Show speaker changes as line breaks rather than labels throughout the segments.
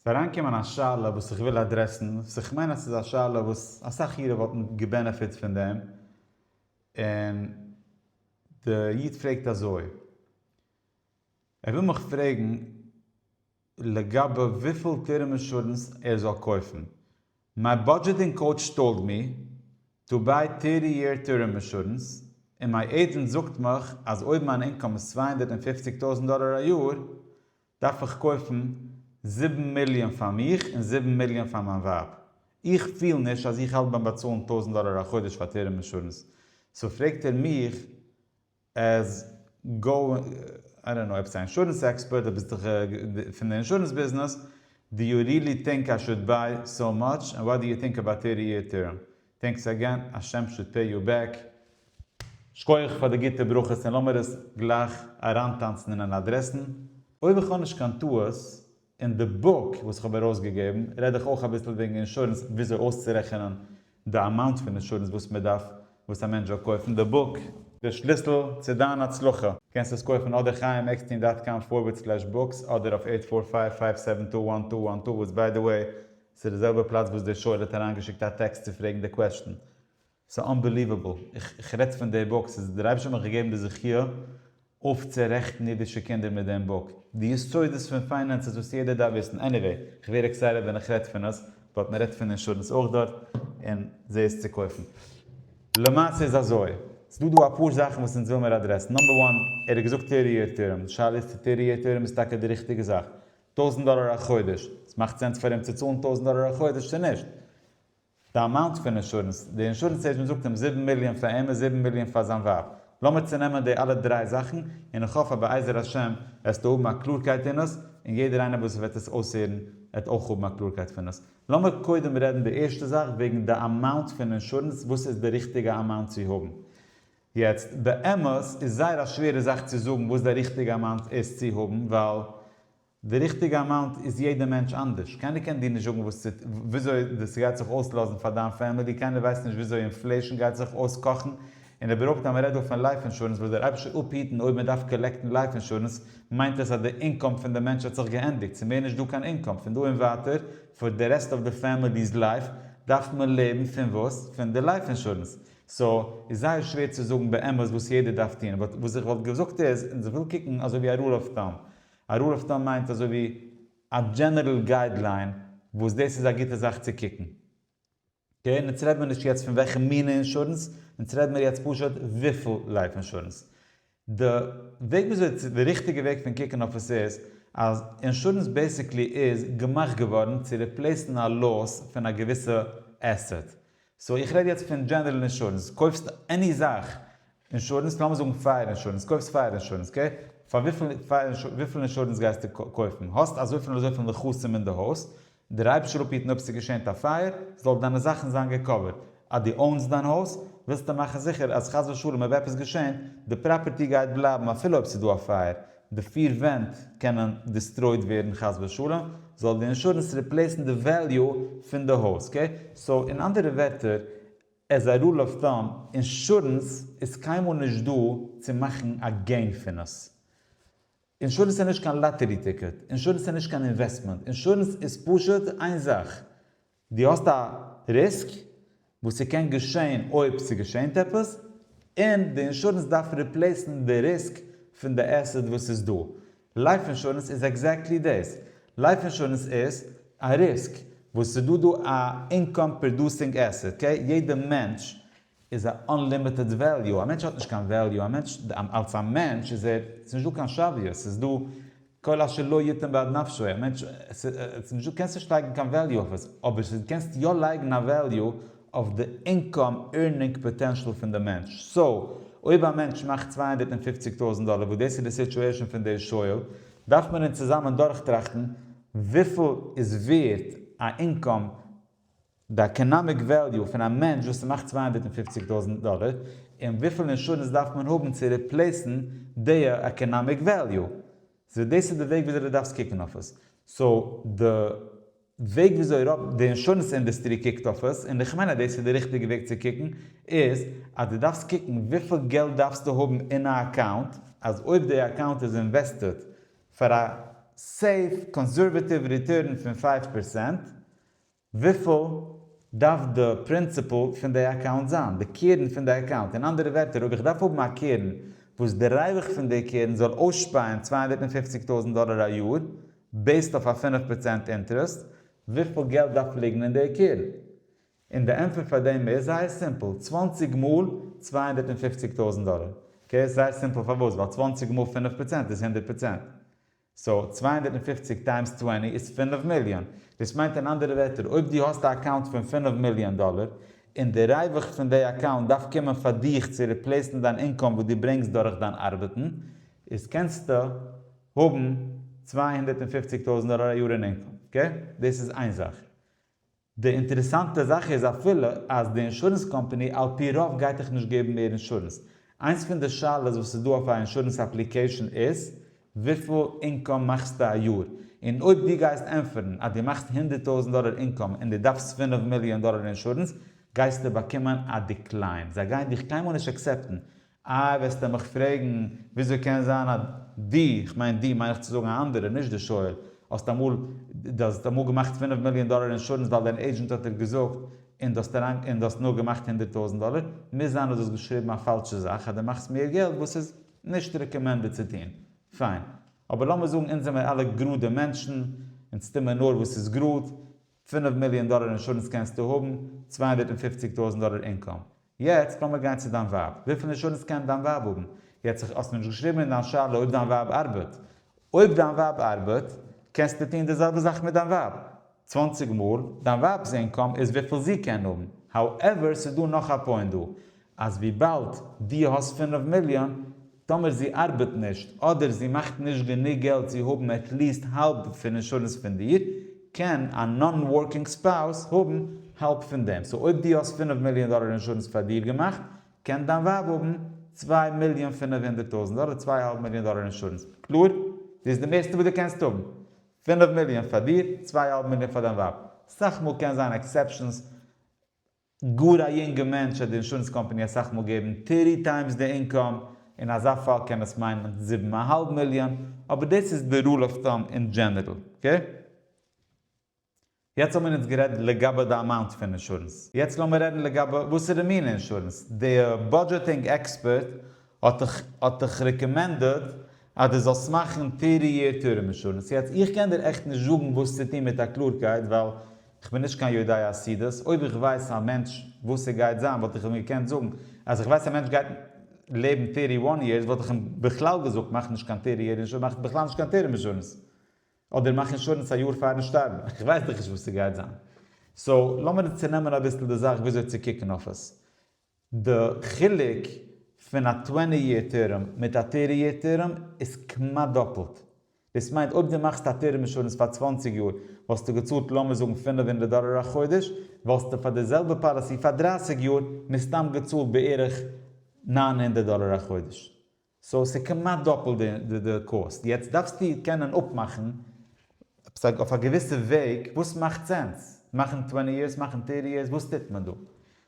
ס'איז אריינגעקומען א שאלה וואס איך וויל אדרעסן, וואס איך מיין אז ס'איז א שאלה וואס אסאך אירע וואלטן געבענעפיט פון דעם, און די איד פרעגט אזוי, ער וויל מיך פרעגן לגבי וויפיל טערם אינשורענס ער זאל קויפן, מיי באדזשעטינג קאוטש טאלד מי טא ביי טערטי יער טערם אינשורענס, און מיי עידזענט זאגט מיך אז אויב מיין אינקאם איז צוויי הונדערט און פֿופֿציק טויזנט דאלער א יאר, דארף איך קויפן זיבן מיליאן פאר מיך און זיבן מיליאן פאר מיין ווייב? איך פיל נישט אז איך האלט ביים באצאלן טויזנט דאלער א חודש פאר טערם אינשורענס, סאו פרעגט ער מיך עז גאו איי דאנט נאו עפעס א אינשורענס עקספערט, דו ביסט דאך פון די אינשורענס ביזנעס, דו יו ריעלי טינק איי שוד ביי סאו מאטש, און וואט דו יו טינק אבאוט טערטי יער טערם? טענקס אגען, השם שוד פעי יו בעק. שכוח פאר די גוטע ברכות און לאמיר עס גלייך אריינטאנצן אין אן אדרעסן. אויב איך האב נישט קיין טעות, אין די בוק וואס איך האב ארויסגעגעבן רעד איך אויך אביסל וועגן אינשורענס וויאזוי אויסצורעכענען די אמאונט פון אינשורענס וואס מען דארף וואס א מענטש זאל קויפן די בוק. די שליסל צו דיין הצלחה. קענסט עס קויפן אדער חיים עקסטין דאט קאם פארווערד סלעש בוקס אדער אויף עיט פאר פייוו פייוו סעווען טו וואן טו וואן טו וואס ביי די וועי ס'איז די זעלבע פלאץ וואס דער שואל האט אריינגעשיקט א טעקסט צו פרעגן די קוועסטשן. ס'איז אנבעליוועבל. איך רעדט פון די בוק. ס'איז דער אייבערשטער האט מיך געגעבן די זכיה אויפצורעכטן אידישע קינדער מיט דעם בוק. די יסודות פון פיינענסעס וואס יעדער דארף וויסן. עניוועי, איך ווער עקסייטעד ווען איך רעד פון עס, באט מ'רעדט פון אינשורענס אויך דארט, און זעה עס צו קויפן. למעשה איז אזוי. ס'דא דא אפאר זאכן וואס אונז וויל מיר אדרעסן. נאמבער וואן, ער האט געזאגט טערטי יער טערם. די שאלה איז צו טערטי יער טערם איז טאקע די ריכטיגע זאך. טויזנט דאלער א חודש, עס מאכט סענס פאר אים צו צאלן טויזנט דאלער א חודש צו נישט? די אמאונט פון אינשורענס, די אינשורענס עידזשענט זאגט אים זיבן מיליאן פאר אים און זיבן מיליאן פאר זיין ווייב, לאמיר צונעמען די אלע דריי זאכן, און איך האף אז בעזר השם וועסטו האבן א קלארקייט אין עס, און יעדער איינער וואס וועט עס אויסהערן וועט אויך האבן א קלארקייט פון עס. לאמיר קודם רעדן די ערשטע זאך וועגן די אמאונט פון אינשורענס, וואס איז די ריכטיגע אמאונט צו האבן? יעצט באמת איז זייער א שווערע זאך צו זאגן וואס די ריכטיגע אמאונט איז צו האבן ווייל די ריכטיגע אמאונט איז יעדע מענטש אנדערש קיינער קען דיר נישט זאגן וואס צו וויאזוי דאס גייט זיך אויסלאזן פאר דיין פעמילי קיינער ווייסט נישט וויאזוי אינפלעישן גייט זיך אויסקאכן און איבערהויפט אז מען רעדט דא פון לייף אינשורענס וואס דער אייבישטער אפהיטן אויב מען דארף קאלעקטן לייף אינשורענס מיינט עס אז די אינקאם פון די מענטש האט זיך געענדיגט ס'מער נישט דא קיין אינקאם פון דא און ווייטער פאר די רעסט אוו די פעמילי'ס לייף דארף מען לעבן פון וואס? פון די לייף אינשורענס סא איז זייער שווער צו זאגן באמת וואס יעדער דארף טון באט וואס איך וואלט געזאגט איז און איך וויל קוקן אזוי ווי א רול אוו טאם א רול אוו טאם מיינט אזוי ווי א דזשענערל גייד ליין וואס דאס איז א גוטע זאך צו קוקן אקעי און אונז רעד מיר נישט יעצט פון וועלכע מינע אינשורענס אונז רעד מיר יעצט פשוט וויפיל לייף אינשורענס די וועג וויאזוי צו די ריכטיגע וועג פון קוקן אויף עס איז אז אינשורענס בעסיקלי איז געמאכט געווארן צו ריפלעיסן א לאס פון א געוויסע עסעט סאו איך רעד יעצט פון דזשענערל אינשורענס קויפסט עני זאך אינשורענס לאמיר זאגן פייער אינשורענס קויפסט פייער אינשורענס אקעי פאר וויפיל פייער וויפיל אינשורענס גייסטו קויפן האסט אזויפיל און אזויפיל נכסים אין די הויז דער אייבערשטער האט געהיטן אויב ס'געשענט א פייער זאל דיינע זאכן זיין געקאווערט, אז דו אוינס דיין הויז ווילסטו מאכן זיכער אז חס ושלום אויב עפעס געשענט די פראפערטי גייט בלייבן אפילו אויב ס'דא א פייער, די פיר ווענט קענען דיסטרויד ווערן חס ושלום, זאל די אינשורענס ריפלעיסן די וועליו פון די הויז, אקעי? סאו אין אנדערע ווערטער, עז א רול אוו טאם, אינשורענס איז קיינמאל נישט דא צו מאכן א געין פון עס, אינשורענס איז נישט קיין לאטערי טיקעט, אינשורענס איז נישט קיין אינוועסטמענט, אינשורענס איז פשוט איין זאך, דו האסט א ריסק וואס ס'קען געשעהן אויב ס'געשעהנט עפעס, און די אינשורענס דארף ריפלעיסן די ריסק פון די עסעט וואס איז דא. לייף אינשורענס איז עקזעקטלי דאס, לייף אינשורענס איז א ריסק וואס ס'דא דא א אינקאם פראדוסינג עסעט, אקעי, יעדע מענטש איז א אנלימיטעד וועליו, א מענטש האט נישט קיין וועליו, א מענטש אלס א מענטש איז ער, ס'איז נישט דא קיין שוויות, ס'איז דא כל אשר לא יתן בעד נפשו, א מענטש, ס'איז נישט דא, קענסט נישט לייגן קיין וועליו אויף עס, אבער ס'איז קענסט יא לייגן א וועליו אויף די אינקאם ערנינג פאטענשעל פון די מענטש, סאו אויב א מענטש מאכט צוויי הונדערט און פופציג טויזנט דאלער וואס דאס איז די סיטואשען פון דער שואל, דארף מען אונז צוזאמען דורכטראכטן וויפיל איז ווערט א אינקאם די עקאנאמיק וועליו פון א מענטש וואס ס'מאכט צוויי הונדערט און פופציג טויזנט דאלער, און וויפיל אינשורענס דארף מען האבן צו ריפלעיסן די עקאנאמיק וועליו. סאו דאס איז די וועג וויאזוי די דארפסט קוקן אויף עס. סאו די וועג וויאזוי אייראפ די אינשורענס אינדעסטרי קוקט אויף עס, און איך מיין אז דאס איז די ריכטיגע וועג צו קוקן, איז אז די דארפסט קוקן וויפיל געלט דארפסטו האבן אין א אקאונט, אז אויב די אקאונט איז אינוועסטעד פאר א סעיף קאנסערוועטיוו ריטורן פון פייוו פערסענט, וויפיל דארף די פרינציפעל פון די אקאונט זיין? די קרן פון די אקאונט? אין אנדערע ווערטער אויב איך דארף האבן א קרן וואס די רווח פון די קרן זאל אויסשפייען צוויי הונדערט און פֿופֿציק טויזנט דאלער א יאר בעיסד אויף א פֿינף פראצענט אינטערעסט, וויפיל געלט דארף ליגן אין די קרן? און די ענטפער פאר דעם איז זייער סימפל, צוואַנציק מאל צוויי הונדערט און פֿופֿציק טויזנט דאלער. אקעי, ס'איז זייער סימפל פארוואס? ווייל צוואַנציק מאל פֿינף פראצענט איז הונדערט פראצענט. סאו צוויי הונדערט און פֿופֿציק טיימס צוואַנציק איז פֿינף מיליאן. דאס מיינט אין אנדערע ווערטער אויב דו האסט א אקאונט פון פֿינף מיליאן דאלער, און די ריווח פון די אקאונט דארף קומען פאר דיך צו ריפלעיסן דיין אינקאם וואס דו ברענגסט דורך דיין ארבעטן, איז קענסטו האבן צוויי הונדערט און פֿופֿציק טויזנט דאלער א יאר אין אינקאם. אקעי? דאס איז איין זאך. די אינטערעסאנטע זאך איז אפילו אז די אינשורענס קאמפאני על פי רוב גייט דיך נישט געבן מער אינשורענס. איינס פון די שאלות וואס איז דא אויף א אינשורענס אפליקעישאן איז וויפיל אינקאם מאכסטו א יאר? און אויב דו גייסט ענטפערן אז דו מאכסט הונדערט טויזנט דאלער אינקאם און דו דארפסט פֿינף מיליאן דאלער אינשורענס גייסטו באקומען א דיקליין. זיי גייען דיך קיינמאל נישט עקסעפטן איי וועסטו מיך פרעגן וויאזוי קען זיין אז דו, איך מיין דו מיין איך צו זאגן א אנדערער נישט דער שואל, האסט אמאל, דו האסט אמאל געמאכט פינף מיליאן דאלער אינשורענס ווייל דיין עידזשענט האט דיר געזאגט און דו האסט אריין און דו האסט נאר געמאכט הונדערט טויזנט דאלער, מוז זיין אז דו האסט געשריבן א פאלשע זאך אז דו מאכסט מער געלט וואס איז נישט רעקאמענדעד צו טון. פיין. אבער לאמיר זאגן אונז זעמיר אלע גראדע מענטשן, אונז טוען מיר נאר וואס איז גראד, פינף מיליאן דאלער אינשורענס קענסטו האבן, צוויי הונדערט און פופציג טויזנט דאלער אינקאם. יעצט לאמיר גיין צו דיין ווייב, וויפיל אינשורענס קען דיין ווייב האבן? יעצט איך האסט מיר נישט געשריבן אין דיין שאלה אויב דיין ווייב ארבעט. אויב דיין ווייב ארבעט, קענסטו טון די זעלבע זאך מיט דיין ווייב. צוואנציג מאל דיין ווייב'ס אינקאם איז וויפיל זי קען האבן. האועווער, ס'איז דא נאך א פוינט דא. אז וויבאלד דו האסט פינף מיליאן, טאמער זי ארבעט נישט, אדער זי מאכט נישט גענוג געלט צו האבן עטליעסט האלב פון אינשורענס פון דיר, קען א נאן-ווארקינג ספאוס האבן האלב פון דעם. סאו אויב דו האסט פינף מיליאן דאלער אינשורענס פאר דיר געמאכט, קען דיין ווייב האבן צוויי מיליאן פינף הונדערט טויזנט דאלער, צוויי האלב מיליאן דאלער אינשורענס. קלאר? דאס איז די מערסטע וואס דו קענסט האבן. פינף מיליאן פאר דיר, צוויי האלב מיליאן פאר דיין ווייב. סאך מאל קען זיין עקסעפשאנס. גאר א יונגע מענטש וועט די אינשורענס קאמפאני אסאך מאל געבן טערטי טיימס די אינקאם, אין אזא פאל קען עס מיינען זיבן א האלב מיליאן, אבער דאס איז די רול אוו טאם אין דזשענערל, אקעי? יעצט האבן מיר אונז גערעדט לגבי די אמאונט פון אינשורענס, יעצט לאמיר רעדן לגבי וואסערע מינע אינשורענס, די בודזשעטינג עקספערט האט דיך האט דיך רעקאמענדעד אז דו זאלסט מאכן טערטי יער טורם אינשורענס. יעצט איך קען דיר עכט נישט זאגן וואס צו טון מיט א קלארקייט ווייל איך בין נישט קיין יודע חסידות, אויב איך ווייס א מענטש וואס ער גייט זיין וואלט איך אים געקענט זאגן, אז איך ווייס א מענטש גייט לעבן טערטי וואן יערס וואלט איך אים בכלל געזאגט מאך נישט קיין טערטי יער אינשורענס מאך בכלל נישט קיין טורם אינשורענס אדער מאך אינשורענס א יאר פארן שטארבן איך ווייס דאך נישט וואס ס'גייט זיין סאו לאמיר צונעמען אביסל די זאך וויאזוי צו קוקן אויף עס. די חילוק פון א טווענטי יער טערם מיט א טערטי יער טערם איז כמעט דאפלט. דאס מיינט אויב דו מאכסט א טערם אינשורענס פאר צוואַנציק יאר וואלסטו געצאלט לאמיר זאגן פֿינף הונדערט דאלער א חודש, וואלסטו פאר די זעלבע פאליסי פאר דרײַסיק יאר מסתם געצאלט בערך נײַן הונדערט דאלער א חודש. סאו ס'איז כמעט דאפלט די קאסט, יעצט דארפסטו קענען אפמאכן עפעס אויף א געוויסע וועג וואס מאכט סענס, מאכן טווענטי יערס, מאכן טערטי יערס, וואס טוט מען דא?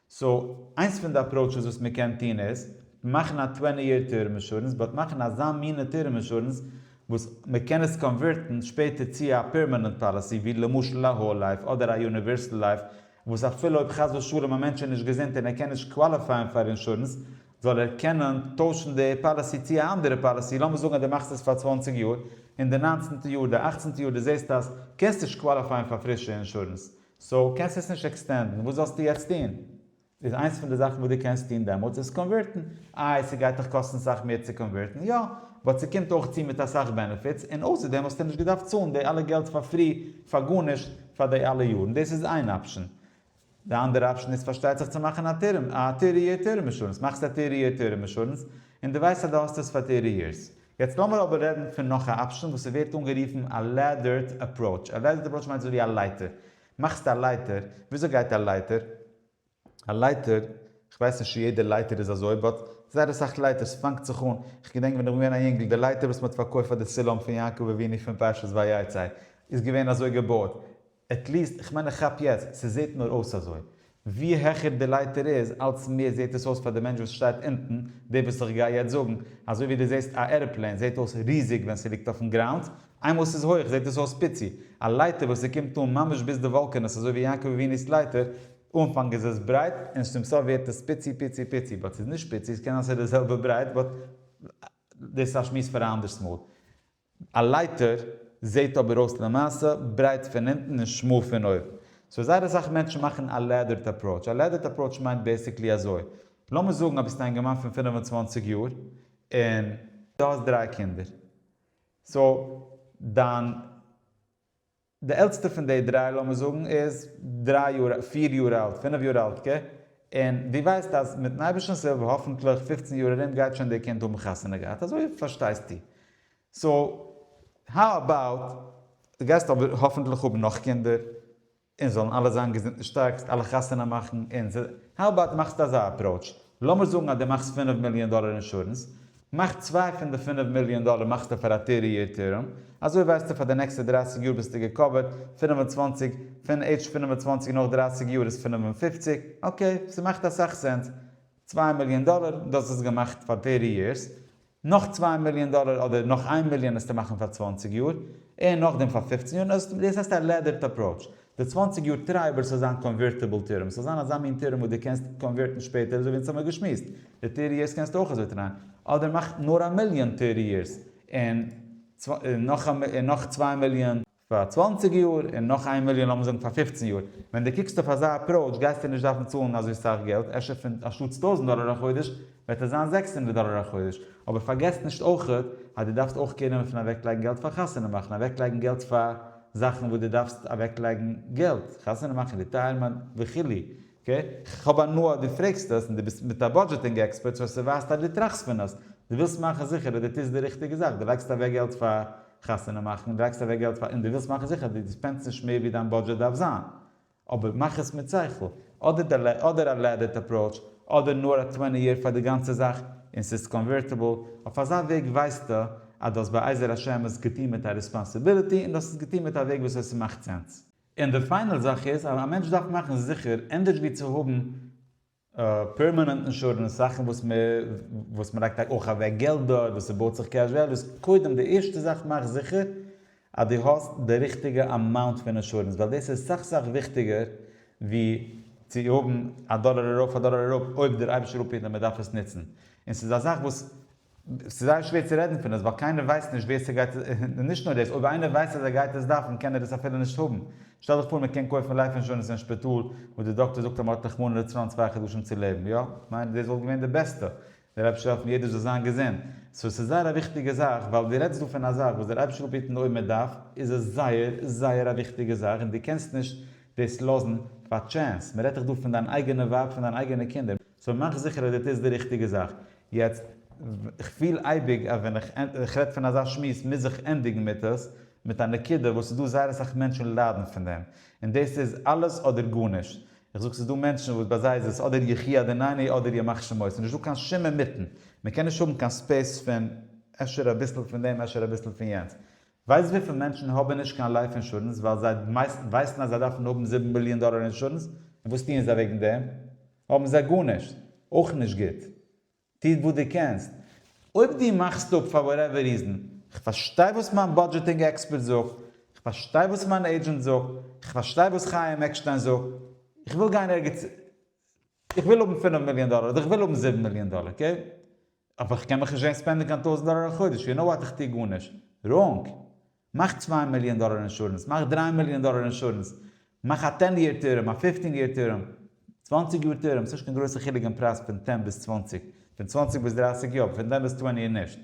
סאו איינס פון די עפראוטשעס וואס מען קען טון איז, מאכן א טווענטי יער טערם אינשורענס, באט מאכן אזא מינע טערם אינשורענס וואס מען קען עס קאנווערטן שפעטער צו א פערמענענט פאליסי ווי למשל א האול לייף אדער א יוניווערסעל לייף, וואס אפילו אויב חס ושלום א מענטש איז נישט געזונט און ער קען נישט קוואליפייען פאר אינשורענס, זאל ער קענען טוישן די פאליסי צי א אנדערע פאליסי, לאמיר זאגן אז די מאכסט עס פאר צוואנציג יאר, און די ניינצענטע יאר, די אכצענטע יאר די זעסט אז קענסט נישט קוואליפייען פאר פרישע אינשורענס, סאו קענסט עס נישט עקסטענדן, וואס זאלסטו יעצט טון? איז איינס פון די זאכן וואס די קענסט טון דעמאלטס איז קאנווערטן, איי ס'גייט דיך קאסטן סאך מער צו קאנווערטן? יא, באט ס'קומט אויך צו מיט אסאך בענעפיטס, און אויסער דעם האסטו נישט געדארפט צאלן די אלע געלט פאר פרי פאר גארנישט פאר די אלע יארן, דאס איז איין אפשן. די אנדערע אפשן איז פארשטייט זיך צו מאכן א טערם, א טרי יער טערם אינשורענס, מאכסט א טרי יער טערם אינשורענס און די ווייסט אז די האסט עס פאר טרי יערס. יעצט לאמיר אבער רעדן פון נאך א אפשן וואס ס'ווערט אנגערופן א לעדערד אפראוטש, א לעדערד אפראוטש מיינט אזוי ווי א לייטער, מאכסט א לייטער, וויאזוי גייט א לייטער? א לייטער, כ'ווייס נישט צו יעדע לייטער איז אזוי, באט זייער אסאך לייטערס פאנגט זיך אן, כ'געדענק ווען איך בין געווען א יונגל די לייטער וואס מ'האט פארקויפט פאר די סולם פון יעקב אבינו פון פרשת ויצא איז געווען אזוי געבויעט, עט ליעסט, כ'מיין איך כאפ יעצט, ס'זעהט נאר אויס אזוי. ווי העכער די לייטער איז, אלץ מער זעהט עס אויס פאר די מענטש וואס שטייט אונטן, די וואס איך גיי יעצט זאגן, אזוי ווי די זעהסט א ערעפלעין זעהט אויס ריזיג ווען ס'ליגט אויפן גראונד, איינמאל ס'איז הויך זעהט עס אויס פיצי, א לייטער וואס ס'קומט אן ממש ביז די וואלקענעס אזוי ווי יעקב אביני'ס לייטער, אנפאנג איז עס ברייט און צום סוף ווערט עס פיצי פיצי פיצי, באט ס'איז נישט פיצי, ס'קען זיין ס'איז די זעלבע ברייט, באט דאס איז א שמועס פאר א אנדערס מאל. א לייטער זעהט אבער אויס למעשה ברייט פון אונטן און שמאל פון אויבן. סאו זייער אסאך מענטשן מאכן א לעדערד אפראוטש. א לעדערד אפראוטש מיינט בעיסיקלי אזוי, לאמיר זאגן אז ביסט א אינגערמאן פון פֿינף און צוואַנציק יאר און דו האסט דריי קינדער. סאו דיין. די עלטסטע פון די דריי לאמיר זאגן איז דריי יאר פיר יאר אלט פינף יאר אלט ק און דו ווייסט אז מיטן אייבערשטנס הילף האפענטליך פופצן יאר ארום גייט שוין די קינד האבן חתונה געהאט אזוי פארשטייסטו סאו האו אבאוט דו גייסט אבער האפענטליך האבן נאך קינדער און זאלן אלע זיין געזונט און שטארק זאלסט אלע חתונה מאכן און ס'איז האו אבאוט מאכסט אזא אפראוטש לאמיר זאגן אז דו מאכסט פינף מיליאן דאלער אינשורענס מאך צוויי פון די פינף מיליאן דאלער מאכסטו פאר א טרי יער טערם, אזוי ווייסטו פאר די נעקסטע דרייסיג יאר ביסטו געקאווערט, פֿינף און צוואַנציק פון עידזש פֿינף און צוואַנציק נאך דרייסיג יאר איז פֿינף און פֿופֿציק, אקעי, ס'מאכט אסאך סענס, צוויי מיליאן דאלער, דו האסט עס געמאכט פאר טרי יערס, נאך צוויי מיליאן דאלער אדער נאך איין מיליאן עסטו מאכן פאר צוואַנציק יאר, און נאכדעם פאר פֿופֿצן יאר, דאס הייסט א לעדערד אפראוטש, די צוואַנציק יאר טרייבער ס'זאל זיין קאנווערטיבל טערם, ס'זאל זיין אזא מין טערם וואס דו קענסט קאנווערטן שפעטער אזוי ווי אונז האמיר געשמועסט, די טער יערס קענסטו אויך אזוי טרייען, אדער מאך נאר א מיליאן טער יערס און נאך צוויי מיליאן פאר צוואַנציק יאר און נאך איין מיליאן לאמיר זאגן פאר פֿופֿצן יאר, ווען דו קוקסט אויף אזא אפראוטש גייסטו נישט דארפן צאלן אזוי סאך געלט, אפשר פון אנשטאטס טויזנט דאלער א חודש וועט עס זיין זעקס הונדערט דאלער א חודש, אבער פארגעס נישט אויכעט אז דו דארפסט אויך קעיר נעמען פון אוועקלייגן געלט פאר חתונה מאכן, אוועקלייגן געלט פאר זאכן וואס דו דארפסט אוועקלייגן געלט, חתונה מאכן, ריטייערמענט, וכו', אקעי? כ'האב הנאה אז דו פרעגסט עס, און דו ביסט מיט א בודזשעטינג עקספערט, סאו עס ווייזט אז דו טראכסט פון עס, דו ווילסט מאכן זיכער אז דו טוסט די ריכטיגע זאך, דו לייגסט אוועק געלט פאר חתונה מאכן, דו לייגסט אוועק געלט פאר, און דו ווילסט מאכן זיכער אז דו ספענדסט נישט מער ווי דיין בודזשעט דארף זיין. אבער מאך עס מיט שכל, אדער די אדער א לעדערט אפראוטש, אדער נאר א טוועני יער פאר די גאנצע זאך, און ס'איז קאנווערטעבל, אויף אזא וועג ווייסטו אז דו האסט בעזר השם עס געטון מיט א ריספאנסיביליטי און דו האסט עס געטון מיט א וועג וואס עס מאכט סענס. און די פיינעל זאך איז אז א מענטש דארף מאכן זיכער, ענדערש ווי צו האבן פערמענענט אינשורענס, זאכן וואס מען וואס מען לייגט אויך אוועק געלט דארט, וואס ס'בויט זיך קעש וועליוס, קודם די ערשטע זאך מאך זיכער אז דו האסט די ריכטיגע אמאונט פון אינשורענס, ווייל דאס איז סאך סאך וויכטיגער ווי צו האבן א דאלער ארויף א דאלער אראפ אויב דער אייבישטער אפהיט אז מען דארף עס נוצן, און ס'איז א זאך וואס ס'איז זייער שווער צו רעדן פון עס ווייל קיינער ווייסט נישט ווער ס'גייט עס, און נישט נאר דאס, אויב איינער ווייסט אז ער גייט עס דארפן קען ער עס אפילו נישט האבן. שטעל דיך פאר מען קען קויפן לייף אינשורענס אין שפיטאל וואס די דאקטער זאגט אז מ'האט רחמנא לצלן צוויי חדשים צו לעבן, יא? כ'מיין דאס וואלט געווען די בעסטע. דער אייבערשטער העלפן יעדער זאל זיין געזונט. סאו ס'איז זייער א וויכטיגע זאך ווייל דו רעדסט דא פון א זאך וואס דער אייבערשטער וויל בעטן אויב מען דארף, איז עס זייער זייער א וויכטיגע זאך און דו קענסט נישט דאס לאזן פאר טשענס. מ'רעדט דיך דא פון דיין אייגענע ווייב פון דיין אייגענע קינדער. סאו מאך זיכער אז דו טוסט די ריכטיגע זאך. יעצט, איך פיל אייביג אז ווען איך רעד פון אזא שמועס מוז איך ענדיגן מיט עס מיט א נקודה וואס ס'איז דא זייער אסאך מענטשן ליידן פון דעם, און דאס איז אלעס אדער גארנישט. איך זאג ס'איז דא מענטשן וואס ביי זיי איז עס אדער יחי אדונינו אדער ימח שמו, ס'איז נישטא קיין שום אינמיטן. מ'קען נישט האבן קיין ספעיס פון אפשר אביסל פון דעם אפשר אביסל פון יענץ. ווייסט וויפיל מענטשן האבן נישט קיין לייף אינשורענס ווייל זיי ווייסן אז זיי דארפן האבן זיבן מיליאן דאלער אינשורענס? און וואס טוען זיי וועגן דעם? האבן זיי גארנישט. אויך נישט גוט. טוט וואס דו קענסט. אויב דו מאכסט אפ פאר וואטעווער ריזן, כ'פארשטיי וואס מיין בודזשעטינג עקספערט זאגט, כ'פארשטיי וואס מיין עידזשענט זאגט, כ'פארשטיי וואס חיים עקשטיין זאגט, איך וויל גיין ערגעץ, איך וויל האבן פינף מיליאן דאלער אדער איך וויל האבן זיבן מיליאן דאלער, אקעי? אבער כ'קען מיך נישט זעהן ספענדן קיין טויזנט דאלער א חודש, יו נאו וואט איך טוה גארנישט ראנג. מאך צוויי מיליאן דאלער אינשורענס, מאך דריי מיליאן דאלער אינשורענס, מאך א טען יער טערם, א פיפטין יער טערם, צוואנציג יאר טערם, ס'נישט קיין גרויסע חילוק אין פרייז פון טען ביז צוואנציג, פון צוואנציג ביז דרייסיג יא, אבער פון טען ביז טווענטי נישט.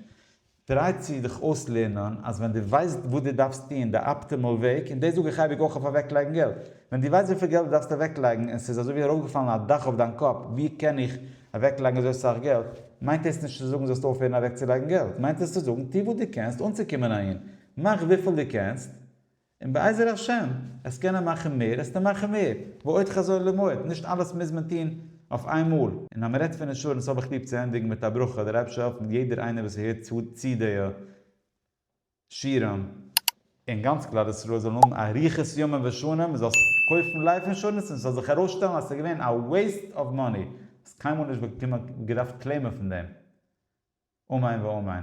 טריי צו דיך אויסלערנען אז ווען דו ווייסט וואס דו דארפסט טון די אפטימעל וועג, און דאס זאג איך אייביג אויך אויף אוועקלייגן געלט, ווען דו ווייסט וויפיל געלט דו דארפסט אוועקלייגן און ס'איז אזויווי ארויפגעפאלן א דאך אויף דיין קאפ, ווי קען איך אוועקלייגן אזוי סאך געלט, מיינט דאס נישט צו זאגן זאלסט אויפהערן אוועקצולייגן געלט, מיינט דאס צו זאגן, טו וואס דו קענסט אנצוקומען אהין, מאך וויפיל דו קענסט, און בעזר השם, עסט קענען מאכן מער, עסטו מאכן מער, ועוד חזון למועד, נישט אלעס מוז מען טון אויף איין מאל. און אז מען רעדט פון אינשורענס האב איך ליב צו ענדיגן מיט א ברכה, דער אייבערשטער העלפן יעדער איינער וואס הערט צו די שירעם, און גאנץ כלל ישראל זאלן האבן אריכות ימים ושנים, מען זאל קויפן לייף אינשורענס און עס זאל זיך ארויסשטעלן אז עס איז געווען א וועיסט אוו מאני, האסט קיינמאל נישט באקומען געדארפט קלעימען פון דעם. אמן ואמן.